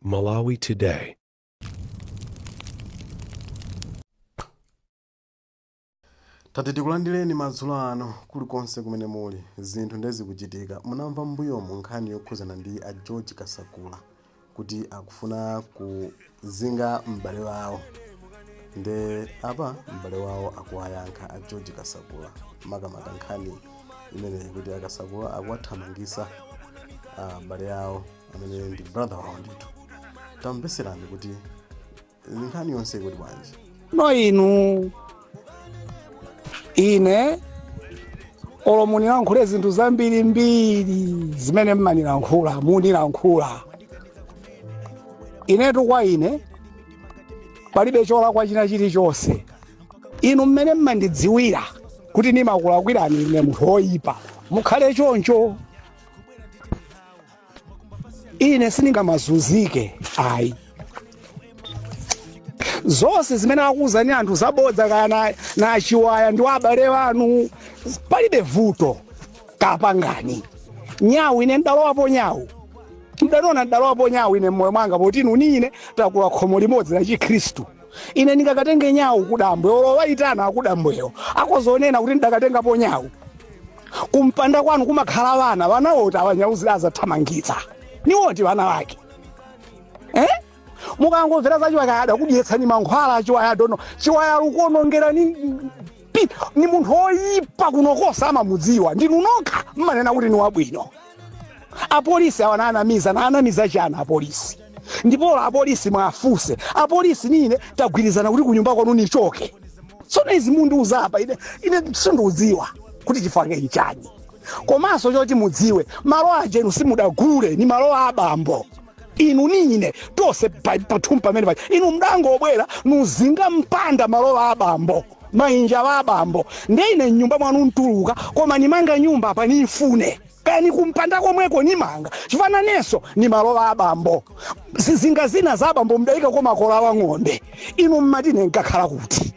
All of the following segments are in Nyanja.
Malawi Today. tati tikulandireni madzulo ano kulikonse kumene muli zinthu nde zikuchitika munamva mbuyomu nkhani yokhuzana ndi a George Kasakula kuti akufuna ku zinga m'bale wawo nde apa m'bale wawo akuwayankha a George Kasakula makamaka nkhani imeneyi kuti akasakula akuwathamangisa ah, m'bale awo amene ndi brother wawo ndithu tamveserani kuti nkhani yonse ikuti bwanji no inu ine olo munilankhule zinthu zambirimbiri zimene mmanilankhula munilankhula inetu kwa ine palibe cholakwa china chilichonse inu mmene mmandidziwira kuti ndimakulakwirani ine munthu woyipa mukhale choncho ine sindingamazunzike ayi zonse zimene akuwuzani anthu zabodza kaya na- na a Chiwaya ndi abale anu palibe vuto kapangani nyawu ine ndalowapo nyawu mdaniona ndalowapo nyawu ine mmoyo mwanga poti inu ni ine takula khomo limodzi la chikhristu Ine ndingakatenge nyawu ku dambwe, olo owayitana akudambwewo akhoza onena kuti ndidakatengapo nyawu. Kumpanda kwanu kumakhala wana, wana oti awa nyawu zidazathamangitsa? Ni oti wana wake? Eh? Mukangomvera za Chiwaya adakudyetsani mankhwala a Chiwaya adono. Chiwaya lukuonongera ni pi- ni munthu oyipa kuno konse amamudziwa. Ndinu nokha mmanena kuti ni wabwino. apolisi awa nanamiza nanamiza chani apolisi ndipo apolisi muwafunse apolisi ni ine tagwirizana kuti kunyumba kwanu nichoke tsono izi mundiuza apa ine ine sindiudziwa kuti chifake nchani komanso choti mudziwe malo aja inu simudagule ni malo a abambo inu ni ine tonse pa- pathumba pamene paja inu mdangobwera nuzinga mpanda malo a abambo mainja wa abambo nde ine mnyumba mwanu ntuluka koma nimanga nyumba panifune kaya nikumpanda komweko nimanga chifukwa nanenso ni malo a abambo zizinga zina za abambo mdaikako makola wa ng'ombe inu mmati ine nkakhala kuti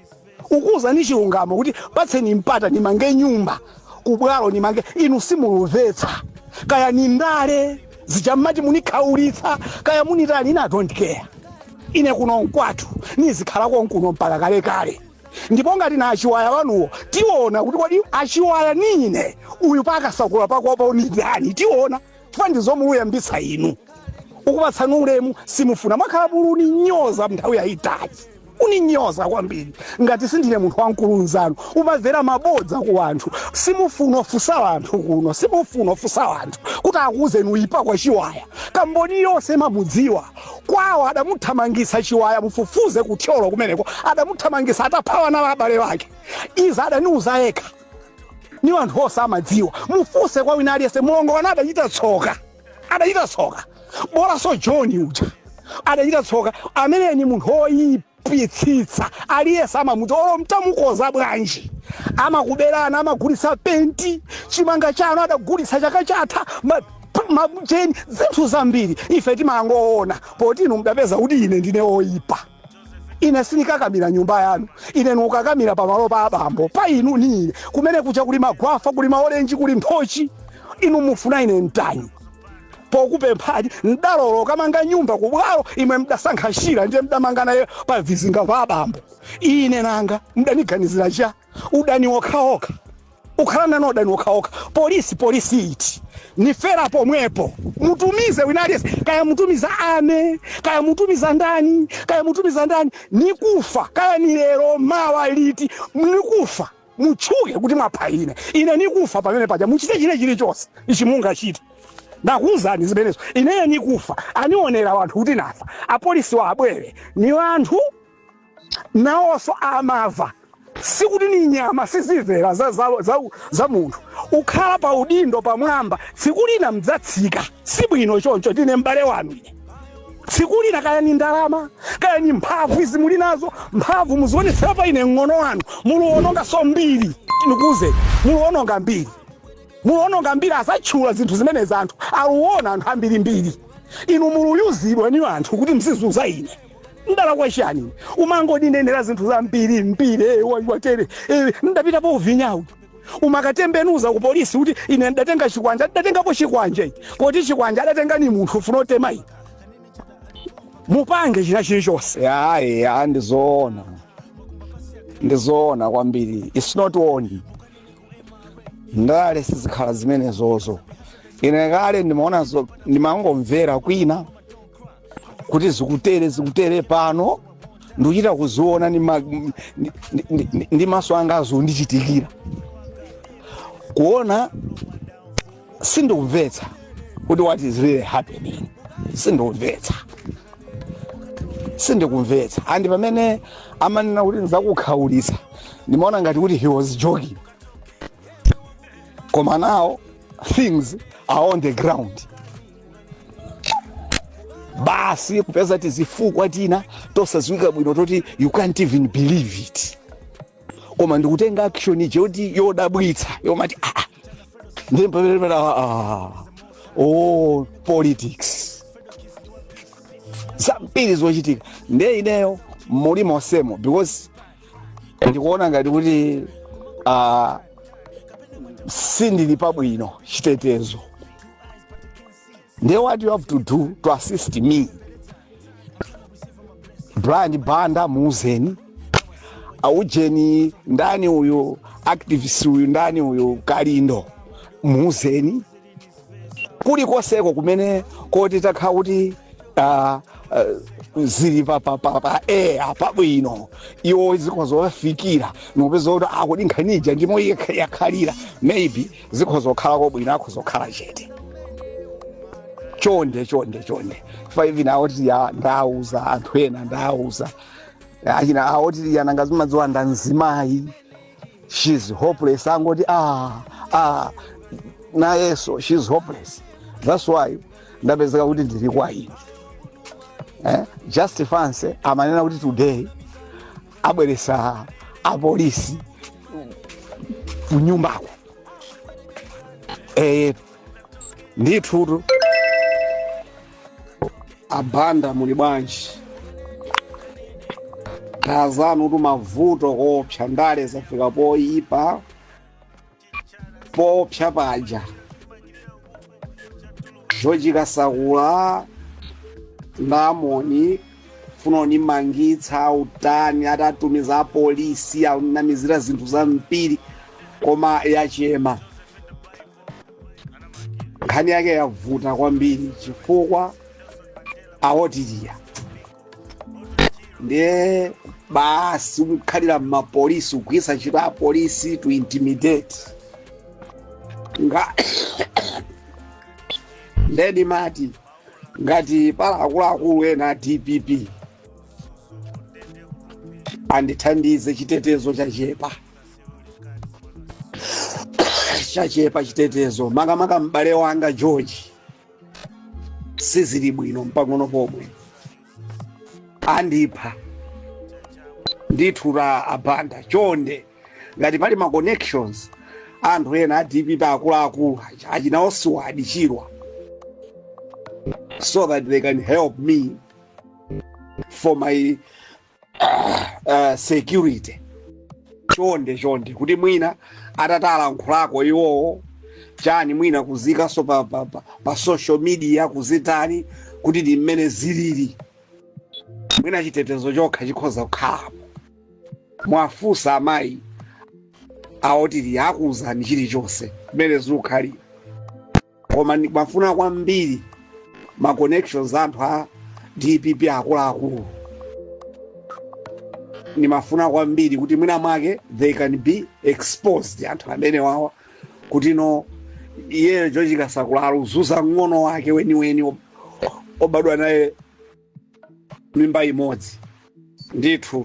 nkuuzani chilungamo kuti patseni mpata nimange nyumba kubwalo nimange inu simulumvetsa kaya ni ndale zija mmati munikhaulitsa kaya munitani I don't care ine kuno nkwathu nizikhala konkuno mpaka kale kale ndipo ngati na achiwaya wanuwo tiona kuti kodi achiwaya nine uyu pakasakula pakopa ni ndani tiona chifukwa ndizo muluyambitsa inu ukupatsani ulemu simufuna mwakhala mulu uninyoza nthawi yayitali uninyoza kwambiri ngati sindine munthu wamkulu nzanu mumamvera mabodza ku wanthu simufuna ufunsa wanthu kuno simufuna ufunsa wanthu kuti akuuzeni uyipa kwa chiwaya kamboni yonse imamudziwa Kwawo adamuthamangitsa Chiwaya mufufuze ku Thyolo kumeneko adamuthamangitsa atapha ana a abale ake. Izi adaniuza yekha. Ni wanthu onse amadziwa. Mufunse kwa wina aliyense mlongo wanu adachita tsoka. Adachita tsoka. Bolanso John uja. Adachita tsoka. Ameneyo ni munthu woipa. pitsitsa aliyese amamudziwa olo mtamukonza bwanji amakuberana amagulitsa penti chimanga chanu adagulitsa chaka chatha ma- p- macheni zinthu zambiri ife timangoona poti inu mdapeza kuti ine ndine oyipa ine sinikakamira nyumba yanu ine nukakamira pamalo pa abambo pa inu ni ine kumene kucha kuli magwafa kuli maolenji kuli nthochi inu mufuna ine mtani pokupemphani mdalola ukamanga nyumba ku bwalo imwe mdasankha shira ndiye mdamanga naye pa vizinga va abambo ine nanga mudaniganizira cha udani okhaokha ukhalana ni udani okhaokha polisi polisi iti nifera pomwepo mutumize wina aliyense kaya mutumiza ame kaya mutumiza ndani kaya mutumiza ndani nikufa kaya ni lero mawa liti nikufa mutchuke kuti mwapha ine ine nikufa pamene paja muchite china chilichonse ichi mungachite ndakuwuzani zimenezo ineyo nikufa anionera wanthu kuti nafa apolisi wa abwere ni wanthu nawonso amava sikuti ni nyama sizimvera za, za, za, za munthu ukhala pa udindo pamwamba tsiku lina mdzatsika sibwino choncho ndine m'bale wanu ine tsiku lina kaya ni ndalama kaya ni mphamvu izi muli nazo mphamvu muzionetsera pa ine mng'ono wanu muluononganso mbiri nikuuzeni muluononga mbiri muluononga mbiri asatchula zinthu zimene wanthu aluona anthu ambirimbiri inu muluyuzidwa ni wanthu kuti mzizuza ine ndalakwa chiyani umangoninenera zinthu zambirimbiri eh, wa- watere eh, ndapita po uvinyawu umakatembenuza ku polisi kuti ine ndatenga chikwanje ndatengapo chikwanje poti chikwanje adatenga ni munthu ufuna utema ine mupange china chilichonse ya ya ndizoona ndizoona kwambiri it's not only ndale sizikhala zimenezozo ine kale ndimaona zo- ndimangomvera kwina kuti zikutere zikutere pano ndikuchita kuziona ndi ma- ndi- ndi- ndi- ndi maso anga zondichitikira kuona sindikumvetsa kuti what is really happening sindikumvetsa sindikumvetsa andi pamene amanena kuti ndizakukhaulitsa ndimaona ngati kuti he was joking koma now things are on the ground basi kupeza tizifukwa tina tosadziwika bwino toti you can't even believe it koma ndikutenga action ije yoti yodabwitsa yomati ah, ah. ndiye pamene pamene, ah, ah. oh politics zambiri zochitika ndiye ineyo muli monsemo because ndikuona ngati kuti ah, sindili pabwino chitetezo ndiye what you have to do to assist me brian banda muuzeni aujeni ndani uyu activist uyu ndani uyu kalindo muuzeni kulikonseko kumene koti takhala kuti ah, ah, zili pa pa pa pa air pabwino iwo zikhoza kuwafikira nopeza kuti kodi nkhani ija ndimo iye yakhalira maybe zikhoza kukhala kobwino akhoza kukhala chete chonde chonde chonde five na aotiria ndauza anthu ena ndauza achina aotiria nanga zimadziwa nda mzimayi she's hopeless angoti ah, ah, nayeso she's hopeless that's why ndapezeka kuti ndili kwa ine eh? just fancy amanena kuti today abweresa apolisi kunyumbako eh, ndithutu abanda muli bwanji anzanutu mavuto koopsa ndale zafika poyipa poopsa paja george kasakula ndamoni funa kundimangitsa kutani atatumiza apolisi kunamizira zinthu zambiri koma yachema nkhani yake yavuta kwambiri chifukwa aotiria ndiye basi kukhalira mmapolisi kugwiritsa ntchito apolisi to intimidate nga nde ndimati ngati pali akuluakulu ena a dpp andithandize chitetezo chachepa chachepa chitetezo makamaka m'bale wanga george sizili bwino mpang'ono pomwe andipha ndithu a Banda chonde ngati pali ma connections anthu ena a dpp akuluakulu aja achina Vuwa Siwadi Chirwa so that they can help me for my uh, security chonde chonde kuti mwina atayankhulako iwowo chani mwina kuziikanso pa, pa, pa, pa social media kuzitani kuti ndi mmene zilili mwina chitetezo chokha chikhoza kukhalapo muwafunse amayi awo Otili akuuzani chilichonse mmene zikukhalira koma ndimafuna kwambiri ma connections anthu a dpp akuluakulu ndimafuna kwambiri kuti mwina mwake they can be exposed anthu amenewawa kuti no iyeyo George Kasakula akuzunza mng'ono wake weniweni ob- wobadwa naye mimba imodzi ndithu